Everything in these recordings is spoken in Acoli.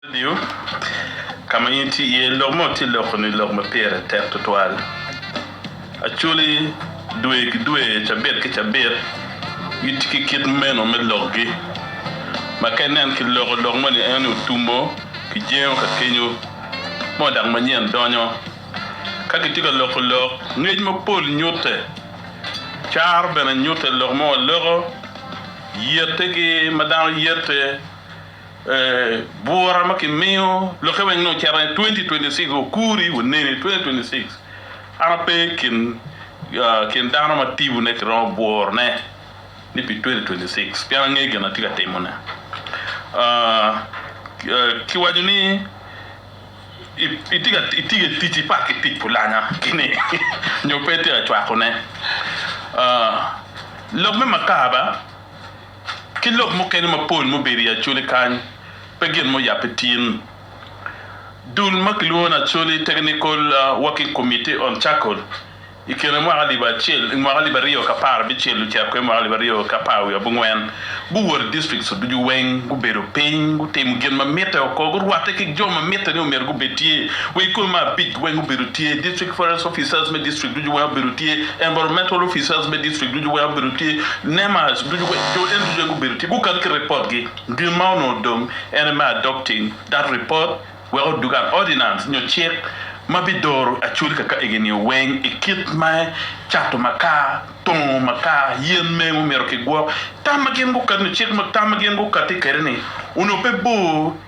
Redio ka ma in itye iye, lok mo tye loko ni lok ma pire tek tutwal. Acholi dwe ki dwe, cabit ki cabit gitye ki kit meno me lokgi, ma ka inen ki loko lok moni ento ni otumo ki jengo ka kenyo mo dok manyen donyo. Ka kitye ka loko lok, ngec mapol nyutte, caro bene nyutte. Lok mo aloko yette ki ma dano yette Bwura ma kimiyo lokke weng ni ocito ni 2026 okuri waneni 2026 an ape kin kin dano ma tibu ne kiromo bworo ne ni pi 2026 pien angeyo gin atye ka timo ne ki waco ni itye ka tic i paki tic pulanya kini nyo pe itye ka cwako ne lok me makaba. ki lok mukene mapol mubedo i Acholi kany pe gin ma oyabbe tin. Dul ma kilwongo ni Acholi Technical Working Committee on Charcoal i kine mwaka alip acel mwaka alip aryo ki apar abicel ocako i mwaka alip aryo ki apar wiye abongwen guwoto i districts ducu weng gubedo piny gutimo gin ma mitte oko gurwatte ki jo ma mitte ni omyero gubed tye wa i kome ma abic weng obedo tye District Forest Officers me district ducu weng obedo tye Environmental Officers me district ducu weng obedo tye NMAS ducu kwe jo eno ducu aye gubedo tye gukak ki report gi gin ma onongo dong ene me adopting that report wek odug an ordinance nyo cik ma bi doro actually ka ka egi nio weng i kit me cato makar, tongo makar, yen mengo myero ki gwok tam ma gin gukati nyo cik ma tam ma gin gukati kede ni onongo pe bor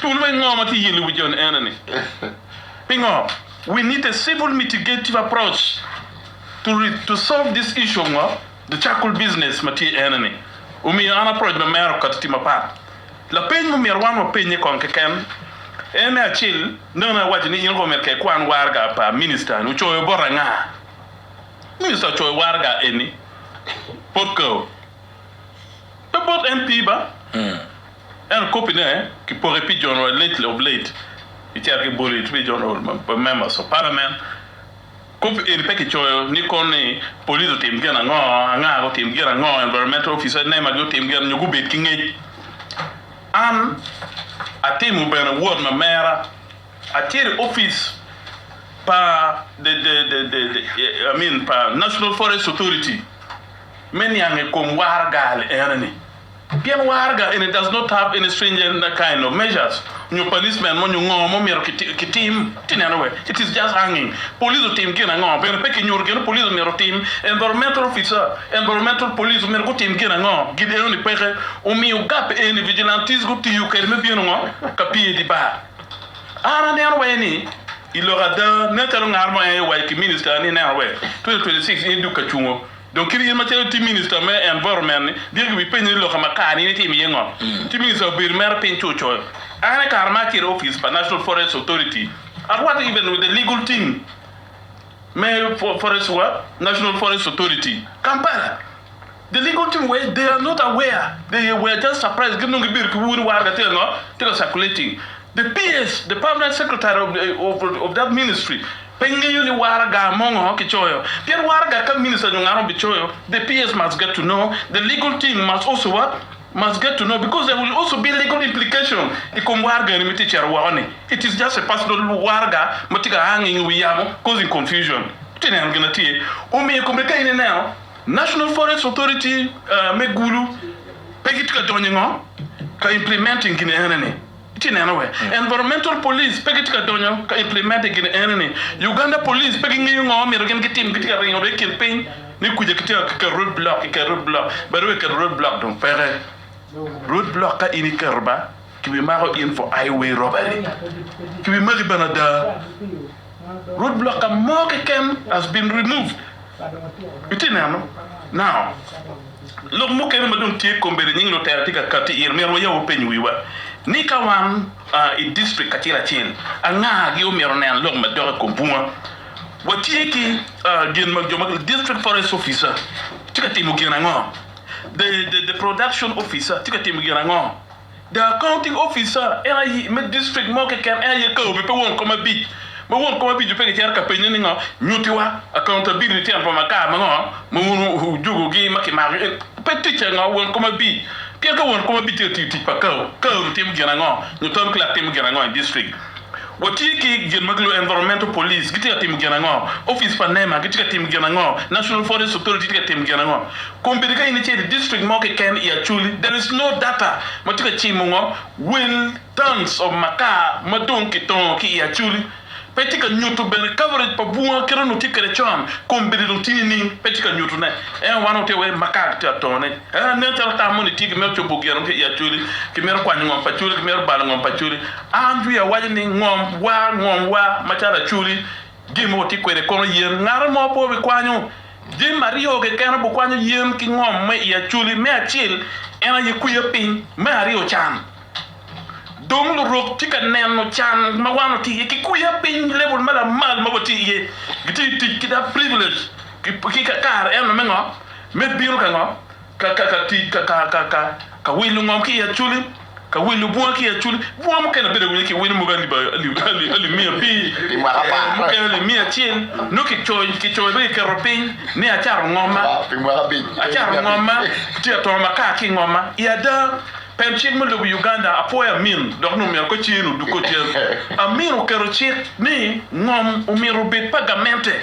Tul me ngo ma kiyilo i wi joni ene ni, Pingo we need a civil mitigative approach to to solve this issue of ngo the charcoal business ma tye ene ni omiyo an approach ma mera okati tye mapat. Lapeny ma omyero wan wapenye kong keken en me acel nongo awaco ni in omyero ka ikwan waraga pa minister ni ocoyo bota nga? Minister ocoyo waraga eni bot kau? Pe bot MP ba? Ento kopine kipoko i pi General Lately of Late kicito ki boli pi General pa Members of Parliament. Kop eni pe kicoyo ni kono ni Police otim gin ango, Angaga otim gin ango, Environmental Officer, NEMA gi otim gin nyo gubed ki ngec. An atimo bene wot ma mera acito i opic pa the the the I mean pa National Forest Authority me niang i kom waragal ene ni. Pien waraga eni does not have any stringent kind of measures nyo punishment mo nyo ngo mo myero ki tim. Ati neno we? It is just hanging. Police otim gin ango? Bene pe ki nyuto gin police omyero otim. Environmental officer, environmental police omyero gu tim gin ango? Gin eno ni peke omiyo gap eni vigilantes gu tiyo kede me bino ngo ka pye idi bar. An aneno wa eni ilok ada nen calo ngat mo en aye waci ki minister ni ineno we 2026 in iduk ka cungo. Dong kit in macalo itye minista me environment-ni, dyegi gibipenyi ni, 'Loka ma kare-ni in itimo iye ngo? Ci minista obedo mere piny ci ocoyo, An i kare ma acito i opic pa National Forest Authority, I was even with the legal team me forest wa, National Forest Authority, Kampala. The legal team were, they are not aware, they were just surprised, gin dong gibedo ki ur ni war ka tye ka ngo? Tye ka circulating. DPS, The Permanent Secretary of the of that Ministry, pe ngeyo ni waraga mongo kicoyo, pien waraga ka Minister nyo ngat mo bicoyo, DPS must get to know, the legal team must also what? must get to know because there will also be legal implication i kom waraga eni ma itye cito woko ni, it is just a personal waraga ma tye ka a ngenge i wi yamo causing confusion. Itye neno gin na tye omiyo i kome ka in ineno National Forest Authority me Gulu pe gitye ka donyo i ngo? ka implementing gin ene ni. Itye neno wee environmental police pe gitye ka donyo ka implement i gin eni ni Uganda police pe gingeyo ngo ma myero gin gitim gitye ka ringo dong i kin piny ni kuca kitye ka keto road block kiketo road block bade wee keto road block dong peke road block ka in iketo ba kibimako in for highway robbery kibimaki bene ada. Road blocker mo keken has been removed itye neno now lok mukene ma dong tye kombeddi nying lutela tye ka kati iye myero wayab wapeny wiwa ni ka wan i district kacel acel anga gi omyero onen lok ma dok i kom bunga watye ki gin ma jo ma district forest officer tye ka timo gin ango the production officer tye ka timo gin ango. The accounting officer en aye me district mo keken en aye kaobe pe won kom abic ma won kom abic-cu pe gicito ka penye ni ngo nyutiwa accountability tyen pa makar mango ma wun wujugo gi ma kimako en pe ticce ngo won kom abic pien ka won kom abic tye ka tiyo tic pa kao, kao-ni timo gin ango nyo town clerk timo gin ango i district. Watye ki gin ma gilwongo Environmental Police gitye ka timo gin ango? Opic pa nema gitye ka timo gin ango? National Forest Authority tye ka timo gin ango? Kombeddi ka in icito i district mo keken i Acholi, there is no data ma tye ka cimo ngo will tons of makar ma dong kitongo ki i Acholi. Pe tye ka nyuto bene coverage pa bunga kit onongo tye kwede con, kombeddi dong tye nining? Pe tye ka nyuto ne. Ento wan watye ka weko makar gitye ka tone. Nen calo tam moni tye kimito cobo gin ango ki i Acholi? Kimito kwanyo ngom pa Acholi? Kimito balo ngom pa Acholi? Andrea waco ni, Ngom wa, ngom wa, macalo Acholi, gin ma watye kwede kono yen ngat mo pe obikwanyo. Jami aryo keken obikwanyo yen ki ngom me i Acholi, me acel en aye kwiya piny, me aryo can. Dong lurok tye ka neno can ma wan watye iye ki kwiya piny, level ma lamal ma watye iye, gitye tic ki da privilege ki kare eno me ngo? Me bino ka ngo? Ka ka ka tic ka ka ka ka ka wilo ngom ki i aculi, ka wilo bunga ki i aculi. Bunga mukene abedo awinyo ki wino mogo alip ali ali miya abir, mukene alip miya acel, nongo ki coyo ki coyo be ki keto piny ni acato ngomma, acato ngomma, tye atongo makar ki i ngomma i ada. Pen cik me lobo Uganda apwoyo amin dok ni omyero ka cen odug ko cen. Amin oketo cik ni ngom omyero obed pa gamente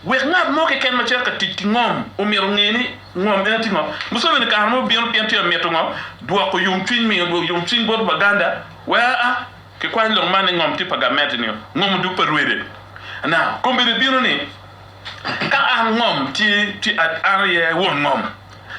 wek ngat mo keken macito ka tic ki ngom omyero onge ni Ngom meno tye ngo? Museveni kare mo bino pien tye ka mito ngo? Dwoko yomcwiny, miyo yomcwiny bot Waganda wek aa ki kwany lok man ni ngom tye pa gamente nio ngom odug pa Rwede. Now, kombeddi bino ni ka an ngom tye, tye an aye won ngom,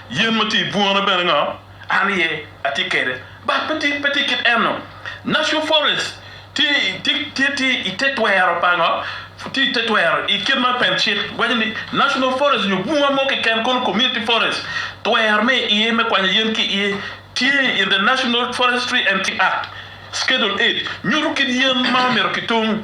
yen ma tye i bunga na bene ngo? An aye atye kede. But pe tye pe tye kit eno. National forest tye tye tye tye i te twero pa ngo? Tye i te twero i kit ma pen cik waco ni national forest nyo bunga mo keken kono community forest twero me iye me kwanyo yen ki iye tye in the national forestry and act schedule eight nyuto kit yen ma myero ki tung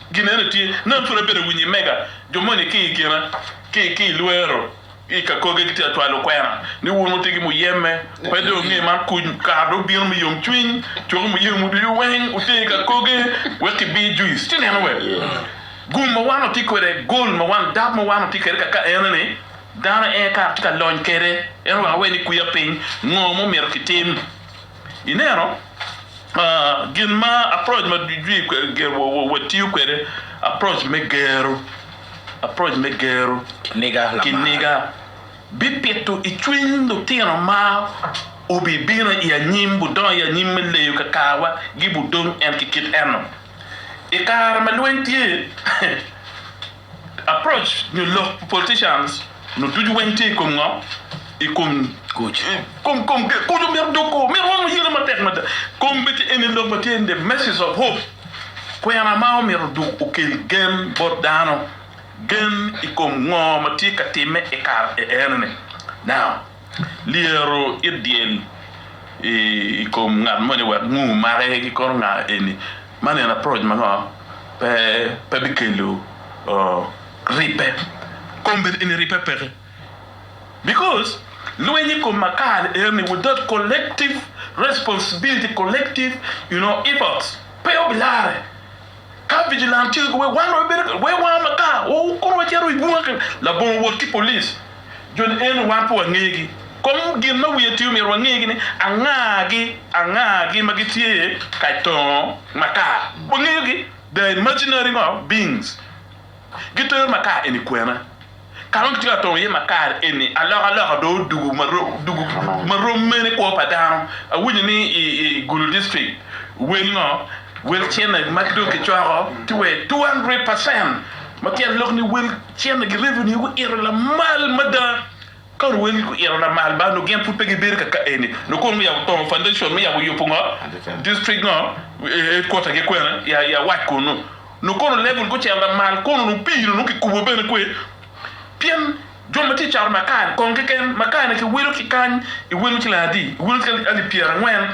Gin eni tye, Nam pud abedo winyi mega, jo moni ki i kina, ki, ki i lwero, i kakoge gitye ka cwalo kwena, ni wun wutye ki muyeme, pe dong nge man kuc, kare dong bino me yomcwiny, coki muyemwu ducu weng wuter i kakoge, wek kibir juice, ci neno wek gum ma wan watye kwede, gold ma wan, dab ma wan watye kwede kaka enoni, dano en kare tye ka lony kwede, ento wek awe ni kwiya piny, ngo ma omyero kitim? I neno, gin ma approach ma watiyo kwede, approach me gero, approach me gero, ki niga bipito i cwiny lutino ma wubibino i anyim, wudongo i anyim me leyo kakarwa gi budong en ki kit eno. I kare ma lweny tye. Approach nyo lok pi politicians nu ducu weng tye i kom ngo? I kom kuc. Kom kom ki kuc omyero dog kor myero wang wayele matek mada. Kom bece eni lok matye in the message of hope. Kwena ma omyero dog okel gen bot dano. Gen i kom ngo ma tye ka time i kare eni ni. Now, lyero it dyel i kom ngat moni wek ngu make ki kono nga eni. Man en approach ma ngo? Pe bikelo ribbe. Kombeddi eni ribbe peke because lweny i kom makar eni without collective responsibility, collective you know efforts pe obilarre. Ka vigilante wek wan wabedo wek wanga makar kong wacito i bunga labongo wot ki police. Jo ni eni wan pe wangegi. Kom gin ma wiye tye omyero wangegi ni anga gi anga gi ma gitye kay tongo makar. Wangeyo gi, they are imaginary ngo beings. Gitero makar eni kwena. Kare ma gitye ka tongo iye makar eni alok aloka dong odugu dugu marom mene kwo pa dano. Awinyo ni i i Gulu district wel ngo wel cene ma dong kicoko tye wai two hundred percent ma tyen lok ni wel. Cente magi revenue gi oito lamal mada ka oruwe ki oito lamal ba onongo gin pud pe gi bedo kaka eni onongo kong oyabo tongo foundation me yabo yubo ngo district ngo headquarter gi kwene ya ya wac kunu onongo kono level gucito lamal kono onongo pii ni onongo ki kubo bene kwee pien jo ma tye cato makar ni kong keken makar ni ki wilo ki kany i wilo siling adi i wilo ki alip pyera angwen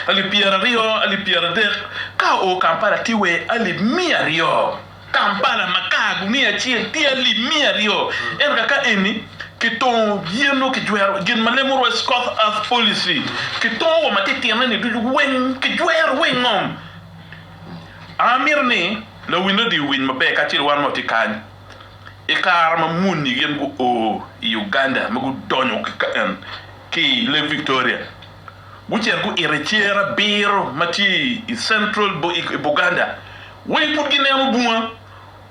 alip pyera aryo alip pyera adek ka oo Kampala tye wai alip miya aryo. Kampala ma kar gumiyo acel tye alip miya aryo, ento ka ka eni kitongo yen nongo kijwero gin ma lemo Royce Scott Earth Policy kitongo wa matitino ni ducu weng kijwero weng ngom. Amito ni lawinne odi owiny maber kacel wan ma watye kany i kare ma muni gin gu o i Uganda ma gudonyo ki kany ki i Lake Victoria gucito gu ito i cer abiro ma tye i Central i Buganda. Weng pud gineno bunga.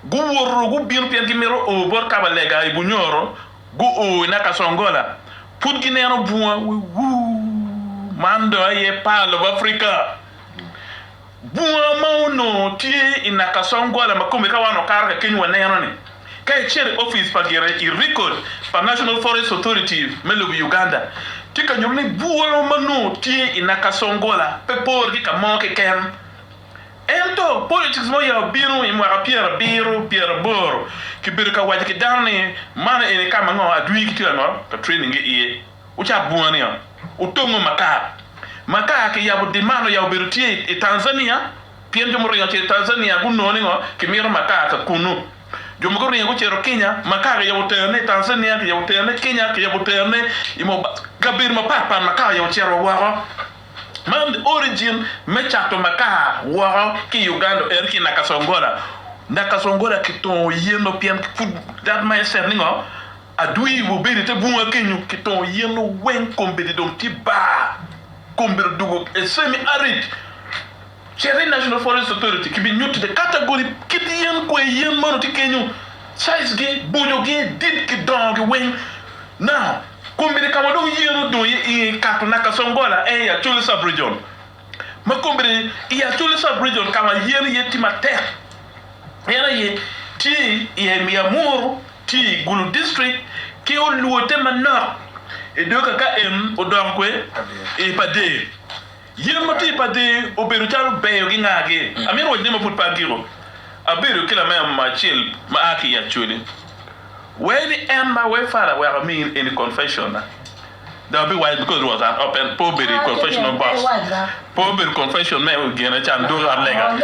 Guwoto gubino pien gimito o bot kabalega i Bunyoro, gu o i Nakasongola. Pud gineno bunga. Wewuu! Man dong aye par lobo Africa. Bunga ma onongo tye i Nakasongola ma kome ka wan wakato kakenyo waneno ni, ka icito i office pa gire i record pa National Forest Authority me lobo Uganda, tye ka nyuto ni bunga ma onongo tye i Nakasongola pe pore ki ka mo keken. Ento politics ma oyabo bino i mwaka pyerabiro pyeraboro kibedo ka waco ki dano ni man eni kama ngo adwir gitye ka ngot ka training gi iye wucak bunga niyo wutongo makar makar ki yabo demand oyabo bedo tye i Tanzania pien jo muringo ce i Tanzania gunongo ni ngo kimito makar ka kunu jo mogo guringo gucito Kenya makar ki yabo tero ne i Tanzania ki yabo tero ne Kenya ki yabo tero ne i kabedo mapat pat makar oyabo cito wa woko. Man the origin me cato makaa woko ki Uganda en ki Nakasongola, Nakasongola ki tongo yeno pien pud that mindset ni ngo adwi wa obedo ite bunga kenyo ki tongo yeno weng kombedi dong tye bar, kombedi odugo a semi arid. Cit i National Forest Authority kibinyutti te kategori kit yen kwer yen mono tye kenyo, size gi, boco gi, dit ki dongo gi weng. Now, kombeddi kama dong yen odong aye inge ikato naka Songola aye i Acholi Sub-Region. Ma kombeddi i Acholi Sub-Region kama yen aye tye matek en aye tye i Emia Muru, tye i Gulu District ki olwote manok i dog kaka en odong kwer i Pader. Yen ma tye i padi obedo calo beyo gi ngagi. Amin wacine ma pud pe atyeko, abedo ki lameya mo acel ma a ki i Acholi. Wee ni en ma wee fara aweko amini eni confession na. Dong abiwaco because it was an open, pe obedo i confessional box, pe obedo confession me gine can dwogo ot lega.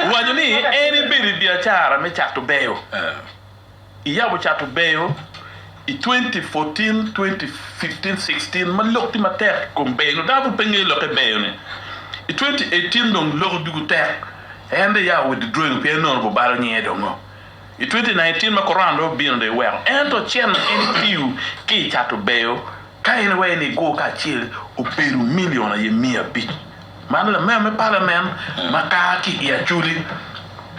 Owaco ni en ebedo i biacara me cato beyo. Iyabo cato beyo i 2014, 2015, 16 ma lok tye matek i kom beyo-nu. Dano pud pe ngeyo lokke beyo-ni. I 2018 dong lok ducu tek. En dong iyabo wi didweng pien nongo bubalo nyinge dongo. I 2019 ma Korona dong obino dong iweko. Ento cen ma en itiyo ki i cato beyo Ka en iwee ni go kacel obedo million aye miya abic man lamea me parliament ma kaa ki i acholi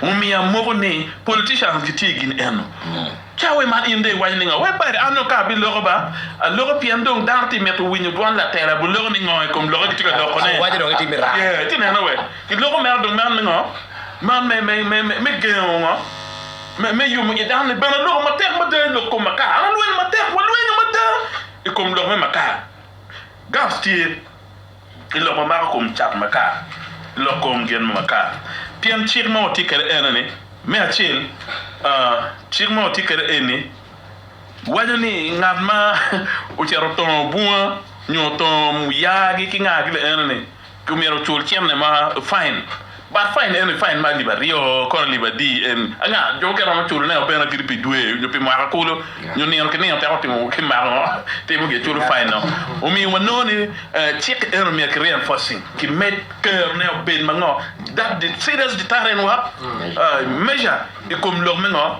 omiyo amoko ni politicians gi tye gin eno ca we man in dong iwaco ni ngo we bade an dong ka abi loko ba aloko pien dong dano tye mito winyo dwon latela bu loko ni ngo i kom loke gi tye ka loko ne Waco dong itime raka. yeah iti neno we ki loko meno dong man me ngo man me me me me gengo ngo. me yomo i dano-ni bene aloko matek mada i lok kom Makar. An alwenyo matek, walwenyo mada i kom lok me Makar. Gans tye i lok ma mako kom cat Makar, i lok kom gin me Makar. Pien cik ma watye kwede ene ni, me acel, cik ma watye kwede eni waco ni ngat ma ocito otongo bunga nyo otongo muyagi ki ngagi bene ene ni, Ki myero ocul cene ma fain, but fain eni fain ma alip aryo kono alip adi eni anga jo mukene romo culo ne o bene kadi pi dwe nyo pi mwaka kulu nyo nino ki nino teko timo ki mako ngo timo gi culo fain no omiyo wa nongo ni cik eni omyero ki reinforcing ki med kero ne obed ma ngo that serious deterrent wa measure ikom lok me ngo.